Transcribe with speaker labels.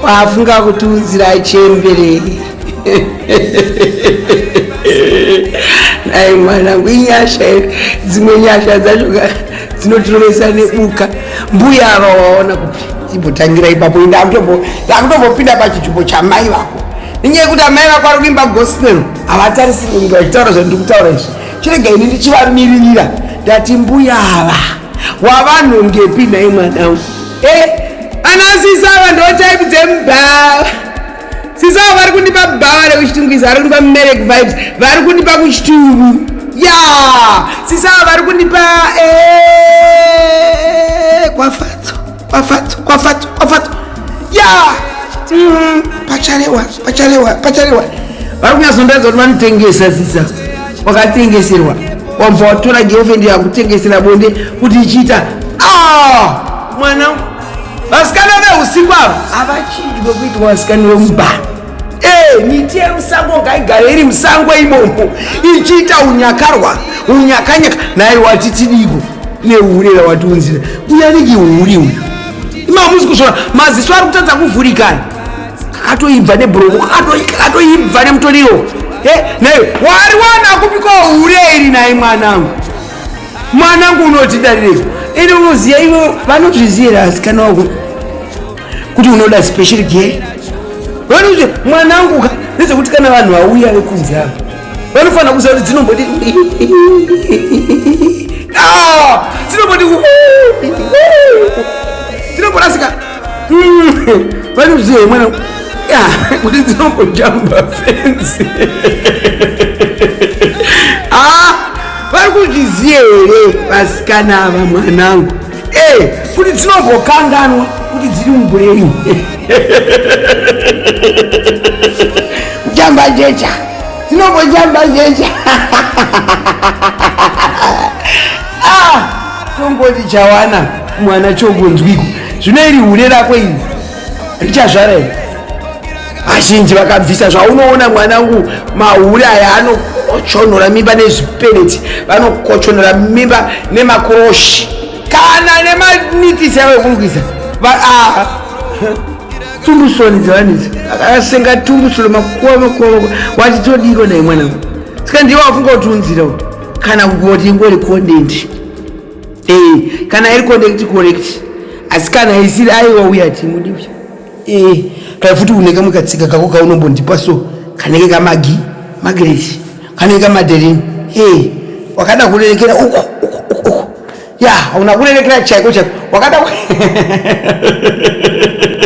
Speaker 1: kwafunga kutiudzira chembere ai mwanangu inyasha here dzimwe nyasha dzacho dzinotirovesa nebuka mbuya ava waona kupi imbotangira ipapo ndakutombopinda pachichupo chamai vako nenyaya yekuti amai vako ari kuimba gospel havatarisiri kunge vachitaura zvandiri kutaura izvi chirega ini ndichivamiririra ndati mbuya ava wavanhu ngepi nhai mwanangu Eh, ana sisi ava ndo type dzemubhawa sisi ava vari kundipa bhawa rekuchitungwiza vari kundipa merek vibes vari kundipa kuchitubu ya sisi ava vari kundipa eh, kwafadzo kwafadzo kwafadzo kwafadzo ya mm-hmm. pacharewa pacharewa pacharewa vari kunyazondaidza kuti vanotengesa sisa wakatengeserwa wabva watora girlfriend yakutengesera bonde kuti ichiita ah! mwana vasikana veusiku ava havachinji vekuitwa vasikana vemubhana eh, miti yemusango ngaigare iri musango imomo ichiita unyakarwa unyakanyaka naye wati tidiko nehure rawatiunzira uyaniki huri uyu imamusi kuzvona maziso ari kutadza kuvhurikana katoibva nebroko katoibva nemutoriro naye wari wana kupiko hure iri naye mwanangu mwanangu unotidarirei ende unoziva ivo vanozviziyera asikana wako kuti unoda special care vanozi mwanangu nezvekuti kana vanhu vauya vekunzi ava vanofanira kuziva kuti dzinomboti ah, dzinomboti dzinomborasika vanozviziva hmm, mwana kuti dzinombojamba fenzi ah, vari kuzviziva here vasikana ava mwanangu eh, kuti dzinombokanganwa kuti dziri mubureni jamba jecha dzinombojamba jecha ah, tongoti chawana mwana chongonzwiko zvino iri hure rako iri richazvara iri vazhinji vakabvisa zvaunoona mwanangu mahure aya anokochonora mimba nezvipeneti vanokochonora mimba nemakoroshi kana nemanitisi avo ekurukisa ah. tumbusoni dzevanhu idzi akasenga tumbusoni makuwa makuwa makuwa wati todiko naye mwanangu saka ndiye wafunga kuti unzira kana kuti ngori kondendi Eh, kana iri connect connect asi kana isiri aiwa uya timudi uya eh, kana futi unenge mukatsika kako kaunombondipa so kanenge kamagi magreti kanenge kamaderini eh, wakada kurerekera uku uku uku uku ya hauna kurerekera chaiko chaiko wakada